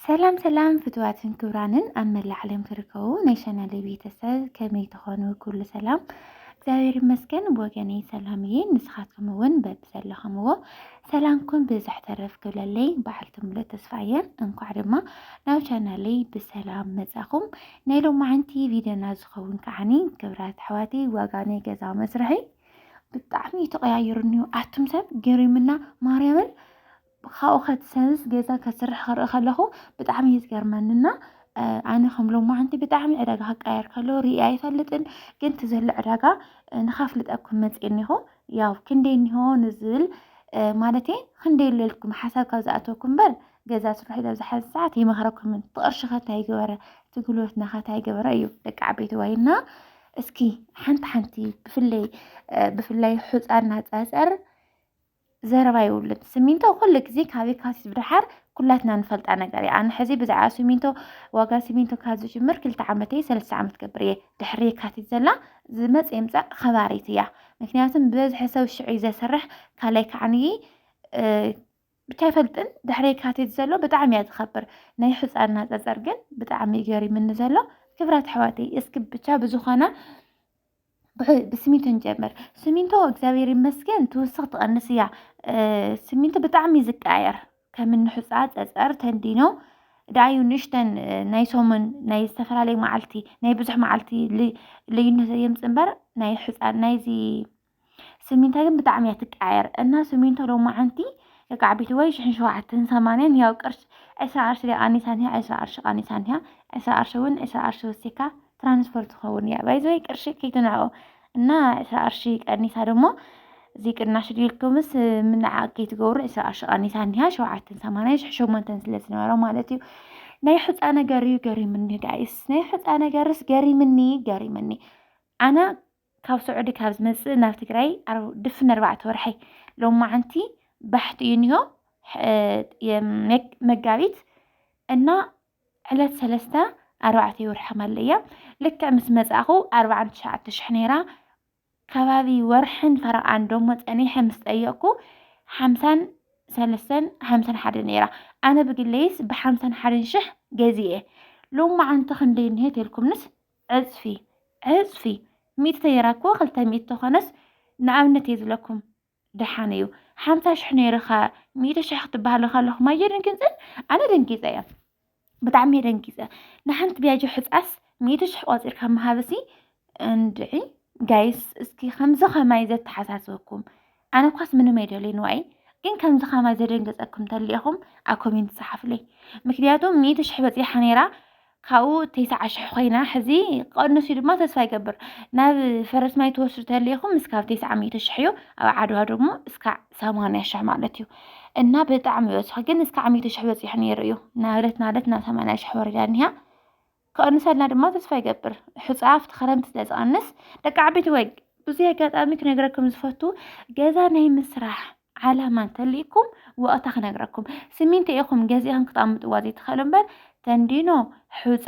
ሰላም ሰላም ፍትዋትን ክብራንን ኣብ መላእ ዓለም ትርከቡ ናይ ቻናለይ ቤተሰብ ከመይ ትኾኑ? ኩሉ ሰላም እግዚኣብሔር ይመስገን። ብወገነይ ሰላም እየ። ንስኻትኩም እውን በብዘለኹምዎ ሰላምኩም ብዝሕ ተረፍ ክብለለይ በዓልቲ ሙሉእ ተስፋ እየ። እንኳዕ ድማ ናብ ቻናለይ ብሰላም መጻኹም። ናይ ሎማዓንቲ ቪድዮና ዝኸውን ከዓኒ ክብራት ኣሕዋቲ ዋጋ ናይ ገዛ መስርሒ ብጣዕሚ እዩ ተቐያይሩ እኒሁ ኣቱም ሰብ ገሪምና ማርያምን ብካኡ ከትሰንስ ገዛ ከትስርሕ ክርኢ ከለኹ ብጣዕሚ እዩ ዝገርመኒ እና ኣነ ከም ሎማዓንቲ ብጣዕሚ ዕዳጋ ክቀየር ከሎ ርኢ ኣይፈልጥን ግን እቲ ዘሎ ዕዳጋ ንካፍልጠኩም መፅእ እኒኹ ያው ክንደይ እኒሆ ንዝብል ማለት ክንደይ ኣለልኩም ሓሳብ ካብ ዝኣተወኩም እምበር ገዛ ስርሑ ኢለ ኣብዚ ሓዚ ሰዓት ይመኽረኩምን እቲ ቅርሺ ከታ ይገበረ እቲ ጉልበትና ከታ ይገበረ እዩ ደቂ ዓበይቲ ዋይና እስኪ ሓንቲ ሓንቲ ብፍለይ ብፍላይ ሕፃና ፀፀር ዘረባ ይውልን ስሚንቶ ኩሉ ግዜ ካብ የካቲት ብድሓር ኩላትና ንፈልጣ ነገር እያ ኣነ ሕዚ ብዛዕባ ስሚንቶ ዋጋ ስሚንቶ ካብ ዝጅምር ክልተ ዓመት እየ ሰለስተ ዓመት ገብር እየ ድሕሪ የካቲት ዘላ ዝመፅ የምፃእ ከባሪት እያ ምክንያቱም ብበዝሒ ሰብ ሽዑ እዩ ዘስርሕ ካልኣይ ከዓንይ ብቻ ይፈልጥን ድሕሪ የካቲት ዘሎ ብጣዕሚ እያ ዝኸብር ናይ ሕፃና ፀፀር ግን ብጣዕሚ ገሪምኒ ዘሎ ክብራት ኣሕዋተይ እስኪ ብቻ ብዝኾነ ብስሚንቶ ንጀምር። ስሚንቶ እግዚኣብሔር ይመስገን ትውስኽ ትቐንስ እያ። ስሚንቶ ብጣዕሚ እዩ ዝቀያየር ከም እንሑፃ ፀፀር ተንዲኖ ደኣዩ ንእሽተን ናይ ሰሙን ናይ ዝተፈላለዩ መዓልቲ ናይ ብዙሕ መዓልቲ ልዩነት የምፅ እምበር ናይ ሕፃን ናይዚ ስሚንቶ ግን ብጣዕሚ እያ ትቀያየር እና ስሚንቶ ሎማዓንቲ የቃዕ ቤት ወይ ሽሕን ሸውዓተን ሰማንያን ያው ቅርሽ ዕስራ ቅርሺ ቃኒሳ እኒሃ ዕስራ ቅርሺ ቃኒሳ እኒሃ ዕስራ ቅርሺ እውን ዕስራ ቅርሺ ወሲካ ትራንስፖርት ይኸውን እያ ባይዘይ ቅርሺ ከይትንዕኦ እና ዕስራ ቅርሺ ቀኒሳ ደሞ እዚ ቅናሽ ድልኩምስ ምንዓቕ ከይትገብሩ ዕስራ ቅርሺ ቀኒሳ እኒሃ ሸውዓተን ሰማንያን ሽሕ ሸሞንተን ስለ ዝነበረ ማለት እዩ ናይ ሕፃ ነገር እዩ ገሪምኒ ጋይስ ናይ ሕፃ ነገርስ ገሪምኒ ገሪምኒ ኣነ ካብ ስዑዲ ካብ ዝመፅእ ናብ ትግራይ ድፍን ኣርባዕተ ወርሐይ ሎም መዓንቲ ባሕቲ እዩ እኒሆ መጋቢት እና ዕለት ሰለስተ ኣርባዕተ ይወርሒ ከመል እያ ልክዕ ምስ መጻእኹ ኣርባዓን ትሽዓተ ሽሕ ነይራ ከባቢ ወርሕን ፈረቓን ደሞ ጸኒሐ ምስ ጠየቕኩ ሓምሳን ሰለስተን ሓምሳን ሓደ ነይራ ኣነ ብግለይስ ብሓምሳን ሓደን ሽሕ ገዚኤ ሎም መዓንቲ ክንደይ እንሄ ተልኩምንስ ዕጽፊ ዕጽፊ ሚእቲ ተይራ እኮ ክልተ ሚእቲ ተኾነስ ንኣብነት እየ ዝለኩም ደሓን እዩ ሓምሳ ሽሕ ነይርኻ ሚእቲ ሽሕ ክትበሃሉ ከለኹም ኣየ ደንጊፅን ኣነ ደንጊፀ እየ ብጣዕሚ እየ ደንጊፀ ንሓንቲ ቢያጆ ሕፃስ ሚእቲ ሽሕ ቆፂርካ ምሃብሲ እንድዒ ጋይስ እስኪ ከምዚ ከማይ ዘተሓሳስበኩም ኣነ ኳስ ምንም ኣይደልይን ዋይ ግን ከምዚ ከማይ ዘደንገፀኩም ተሊኢኹም ኣብ ኮሜንት ፀሓፍለይ ምክንያቱ ሚእቲ ሽሕ በፂሓ ነይራ ካብኡ ቴስዓ ሽሕ ኮይና ሕዚ ቀንሱ ድማ ተስፋ ይገብር ናብ ፈረስ ማይ ትወስዱ ተልኢኹም እስካብ ቴስዓ ሚእቲ ሽሕ እዩ ኣብ ዓድዋ ደግሞ እስካዕ ሰማንያ ሽሕ ማለት እዩ እና ብጣዕሚ ይበዝሑ ግን እስካዕ ሚእቲ ሽሕ በፂሑ ነይሩ እዩ ናብለት ናብለት ናብ ሰማንያ ሽሕ ወሪዳ እኒሃ ክቐንሰልና ድማ ተስፋ ይገብር ሕፃ ኣብቲ ክረምቲ ስለ ዝቐንስ ደቂ ዓበይቲ ወይ ብዙ ኣጋጣሚ ክነግረኩም ዝፈቱ ገዛ ናይ ምስራሕ ዓላማ እንተልይኩም ወቕታ ክነግረኩም ስሚንቶ ኢኹም ገዚእኹም ክትኣምጥዋ ዘይትኽእሉ እምበር ተንዲኖ ሑፃ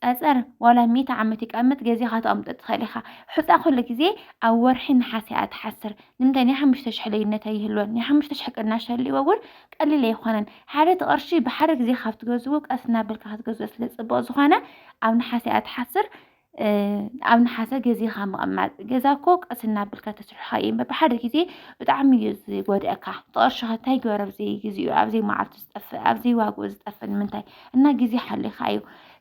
ፀፀር ዋላ ሚእቲ ዓመት ይቀምጥ ገዚኻ ትኣምጦ ትኽእል ኢኻ ሑፃ ኩሉ ግዜ ኣብ ወርሒ ነሓሰ እያ ትሓስር ንምንታይ ናይ ሓሙሽተ ሽሕ ልዩነት ኣይህልወን ናይ ሓሙሽተ ሽሕ ቅናሽ ሃልይዎ እውን ቀሊል ኣይኮነን ሓደ እቲ ቅርሺ ብሓደ ግዜ ካብ ትገዝኡ ቀስ እናበልካ ክትገዝኦ ስለ ፅቡቕ ዝኾነ ኣብ ነሓሰ እያ ትሓስር ኣብ ንሓሰ ገዜኻ ምቕማጥ ገዛ እኮ ቀስ እናብልካ ተስርሖ እዩ እምበር ብሓደ ግዜ ብጣዕሚ እዩ ዝጎድኣካ ተቕርሽኻ እንታይ ገበረ ኣብዘይ ግዜኡ ኣብዘይ መዓልቱ ዝጠፍእ ኣብዘይ ዋግኡ ዝጠፍእ ንምንታይ እና ግዜ ሓሊኻ እዩ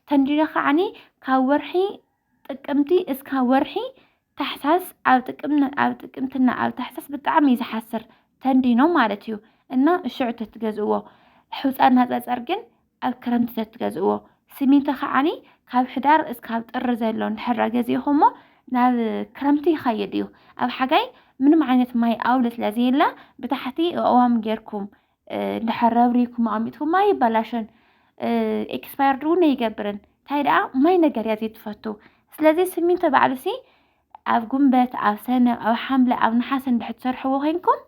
ተንዲረ ከዓኒ ካብ ወርሒ ጥቅምቲ እስካ ወርሒ ታሕሳስ ኣብ ጥቅም ኣብ ጥቅምትና ኣብ ታሕሳስ ብጣዕሚ እዩ ዝሓስር ተንዲኖ ማለት እዩ እና ሽዑ ተትገዝእዎ ሕፃን ናፀፀር ግን ኣብ ክረምቲ ተትገዝእዎ ስሚንቶ ከዓኒ ካብ ሕዳር እስካብ ጥሪ ዘሎ እንድሕር ገዚእኹሞ ናብ ክረምቲ ይኸይድ እዩ ኣብ ሓጋይ ምንም ዓይነት ማይ ኣውሊ ስለ ዘየለ ብታሕቲ እዋም ጌርኩም እንድሕር ረብሪኩም ኣሚጥኩም ማይ ይበላሽን ኤክስፓየርድ እውን ይገብርን እንታይ ደኣ ማይ ነገር እያ ዘይትፈቱ ስለዚ ስሚንቶ ባዕሉሲ ኣብ ጉንበት ኣብ ሰነ ኣብ ሓምለ ኣብ ነሓሰ እንድሕር ትሰርሕዎ ኮይንኩም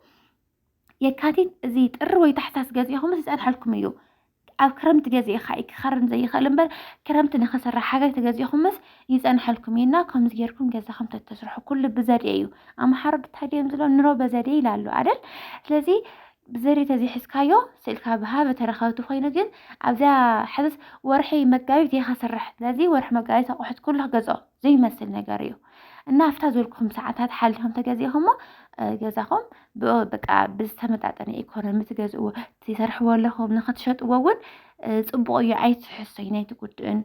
የካቲት እዚ ጥሪ ወይ ታሕሳስ ገዚእኹምስ ይጸንሐልኩም እዩ። ኣብ ክረምቲ ገዚእኻ እዩ ክኸርን ዘይኽእል እምበር ክረምቲ ንኽስራሕ ሓጋይ ተገዚእኹምስ ይጸንሐልኩም እዩ እና ከምዚ ጌርኩም ገዛኹም ተተስርሑ ኩሉ ብዘዴ እዩ። ኣምሓሩ እንታይ ድዮም ዝብሎ ኑሮ በዘዴ ይላሉ ኣደል ስለዚ ብዘዴ ተዘይሕዝካዮ ስእልካ ብሃበ ተረከብቲ ኮይኑ ግን ኣብዚያ ሕዝስ ወርሒ መጋቢት እየ ከስርሕ ስለዚ ወርሒ መጋቢት ኣቑሑት ኩሉ ክገዝኦ ዘይመስል ነገር እዩ እና ኣብታ ዘልኩም ሰዓታት ሓሊኹም ተገዚእኹሞ ገዛኹም በቃ ብዝተመጣጠነ ኢኮኖሚ ትገዝእዎ ትሰርሕዎ ኣለኹም ንክትሸጥዎ እውን ፅቡቅ እዩ ኣይትሕሶይ ናይቲ ጉድእን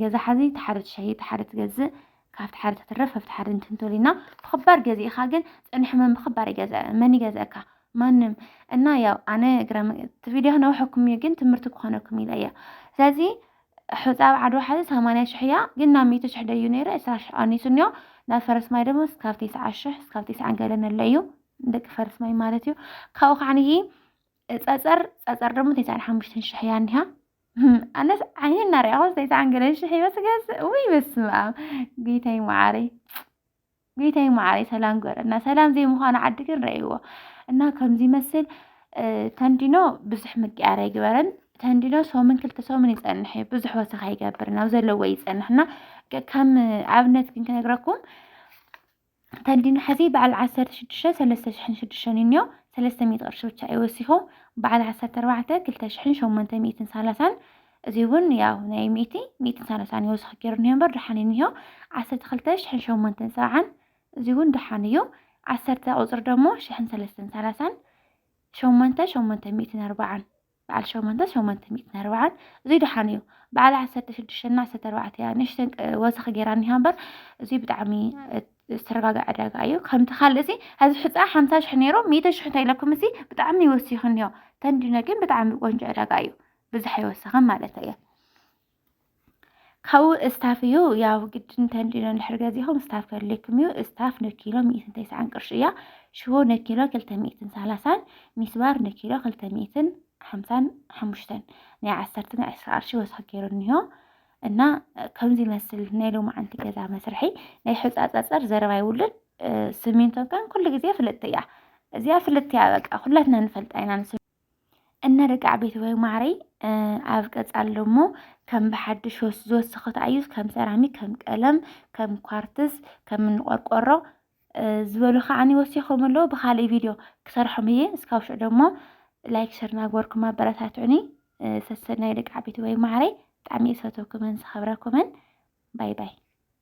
ገዛ ሓዚ ተሓደ ትሸይ ተሓደ ትገዝእ ካብቲ ሓደ ተትረፍ ኣብቲ ሓደ እንትንተሉ ኢና ብክባር ገዚእኻ ግን ፅንሕ መን ብክባር መን ይገዘእካ ማንም እና ያው ኣነ እግረ እቲ ቪድዮ ክነውሐኩም እዩ ግን ትምህርቲ ክኾነኩም ኢለ እያ ስለዚ ሑጻ ኣብ ዓድዋ ሐዚ ሰማንያ ሽሕ እያ ግን ናብ ሚእቲ ሽሕ ደዩ ነይሩ ዕስራ ሽሕ ቐኒሱ እኒኦ ናብ ፈረስማይ ደሞ ስካብ ቴስዓ ሽሕ ስካብ ቴስዓን ገለን ኣሎ እዩ ንደቂ ፈረስማይ ማለት እዩ ካብኡ ኻዓ ንሂ ጸጸር ጸጸር ደሞ ቴስዓን ሓሙሽተን ሽሕ እያ እኒሃ ኣነስ ዓይኒ እናርኣኹስ ቴስዓን ገለን ሽሕ ይበስገስ ውይ በስመ ኣብ ጌታይ መዓረይ ጌታዬ መዓረይ ሰላም ግበረልና ሰላም ዘይምዃኑ ዓዲ ግን ረእይዎ እና ከምዚ ይመስል ተንዲኖ ብዙሕ ምቅያር ኣይግበረን ተንዲኖ ሰሙን ክልተ ሰሙን ይፀንሕ እዩ ብዙሕ ወሰኽ ኣይገብርን ኣብ ዘለዎ ይፀንሕና ከም ኣብነት ግን ክነግረኩም ተንዲኖ ሕዚ በዓል ዓሰርተ ሽዱሽተ ሰለስተ ሽሕን ሽዱሽተን እዩ እኒኦ ሰለስተ ሚእቲ ቅርሺ ብቻ እዩ ወሲኹ በዓል ዓሰርተ ኣርባዕተ ክልተ ሽሕን ሸሞንተ ሚእትን ሰላሳን እዚ እውን ያው ናይ ሚእቲ ሚእትን ሳላሳን ይወስኽ ገይሩ እኒሆ እምበር ድሓን እዩ እኒሆ ዓሰርተ ክልተ ሽሕን ሸሞንተን ሰብዓን እዚ እውን ድሓን እዩ ዓሰርተ ቁፅሪ ደሞ ሽሕን ሰለስተን ሳላሳን ሸሞንተ ሸሞንተ ሚእትን ኣርባዓን በዓል ሸሞንተ ሸሞንተ ሚእትን ኣርባዓን እዚ ድሓን እዩ በዓል ዓሰርተ ሽዱሽተና ዓሰርተ ኣርባዕተ እያ ንእሽተን ወሰኺ ገይራ እኒሃ እምበር እዚ ብጣዕሚ ዝተረጋገ ዕዳጋ እዩ ከምቲ ካልእ እዚ ሕዚ ሕፃ ሓምሳ ሽሕ ነይሩ ሚእተ ሽሕ እንታይ ኢለኩም እዚ ብጣዕሚ ወሲኹ እኒሆ ተንዲኖ ግን ብጣዕሚ ቆንጆ ዕዳጋ እዩ ብዝሕ ኣይወሰኸን ማለት እየ ካብኡ እስታፍ እዩ ያው ግድ እንተንዲኖ ንድሕር ገዚኹም እስታፍ ከድልየኩም እዩ እስታፍ ንኪሎ ሚእትን ተስዓን ቅርሺ እያ ሽቦ ንኪሎ ክልተ ሚእትን ሰላሳን ሚስባር ንኪሎ ክልተ ሚእትን ሓምሳን ሓሙሽተን ናይ ዓሰርተ ናይ ዕስራ ቅርሺ ወስኪ ገይሩ እኒሆ እና ከምዚ ይመስል ናይ ሎማዓንቲ ገዛ መስርሒ ናይ ሕፃፀፀር ዘረባ ይውልን ስሚንቶ ከን ኩሉ ግዜ ፍልጥቲ እያ እዚኣ ፍልጥቲ እያ በቃ ኩላትና ንፈልጣ ኢና እነ ርግዓ ቤተሰብ ማዕረይ ኣብ ቀፃል ደግሞ ከም ብሓድሽ ዝወስኽ ተኣዩ ከም ሰራሚክ ከም ቀለም ከም ኳርትስ ከም እንቆርቆሮ ዝበሉ ከዓኒ ወሲኾም ኣለዉ ብካልእ ቪድዮ ክሰርሖም እየ እስካብ ሽዑ ደግሞ ላይክ ሸር ናግበርኩም ኣበረታትዑኒ ሰሰናይ ደቂ ዓበይቲ ወይ ማዕረይ ብጣዕሚ እየ ዝፈትወኩምን ዝኸብረኩምን ባይ ባይ